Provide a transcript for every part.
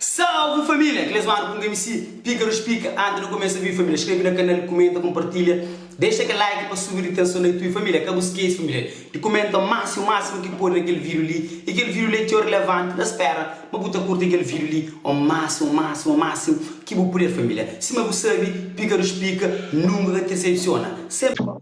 Salve família! Aqueles mano ku nge misi pica nos pica antes no começa vídeo família escreve na canal comenta compartilha deixa aquele like pa subi di tension na YouTube família ka bu esquece família di comenta maxi o máximo ki pode na aquele vídeo li e aquele vídeo li é txeu relevante na spera ma bu ta curti aquele vídeo li o máximo o máximo o máximo ki bu puder família sima bu sabi pica nos pica nunca ka te decepciona sempre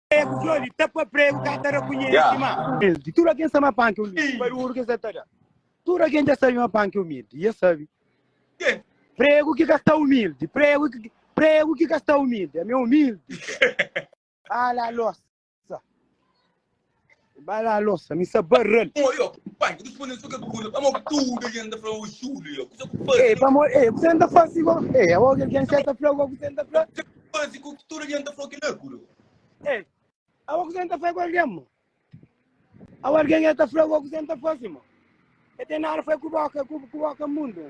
Pregu flori, tapa pregu, ka ta rakunhesi ma. Mildi. Tudu algen sa ma pan ke umildi, baruru ke sa ta da. Tudu algen ja sabi ma pan ke umildi, i es sabi. Pregu ki ka sta umildi, pregu ki, pregu ki ka sta umildi, ami é umildi. Ala losa. Bai lava losa, mi sa barral. Ô, yo, pai, ki responde-l so ke ku bula. Pamo ki tudu algen ta fla, ô Xúliu, yo, kusa ku bu faze? Ê, pamo, ê, kusa N ta fase go? Ê, awo ki algen ser ta fla go, kusa N ta fla? Kusa ki bu fase ku ki tudu algen ta fla kila ku lo? Ê, awo kusa N ta fla ku algen mo? Awo algen e ta fla go kusa N ta fase mo? E ten nada fla ku bo, ke ku bo ke mundu.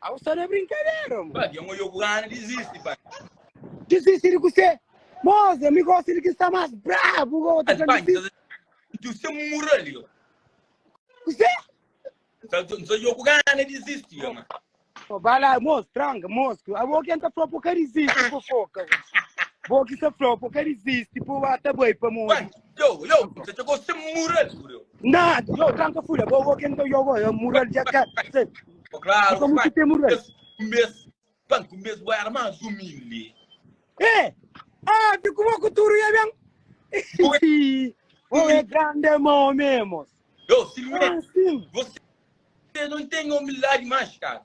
Au sta na brinkadera mo. Pabia un ojoku grandi dizisti pabia. Dizisti di kusé? Moza mi gosta di ki sta mas brabu ka otu ka dizisti. Ntu se mura li o. Kusé? N sta joku gana dizisti o ma. O ba la mos tranka mos ku abo ken ta fla po ka dizisti po foka. Bo ki sta fla po ka dizisti po ba ta bai pa modi. Yo, yo, você chegou a ser mural, bro. Nah, yo, tranca fula, bo, bo, quem eu go, eu mural já cá. Oh, claro, Como que tem mural? Mês, banco, mês, vai era mais humilde. Eh, ah, de como que tu ia bem? Oh, é grande mão mesmo. Yo, Silvio, você não tem humildade mais, cara.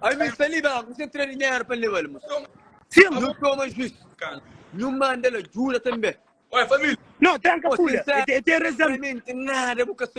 Ai mi sta li ba, mi sta tra dinheiro pa leba li mo. Sim. Nu toma jus. Nu manda la jura também. Oi, família. Não, tranca oh, pula. Sincero, tem, tem razão. Realmente nada, boca só.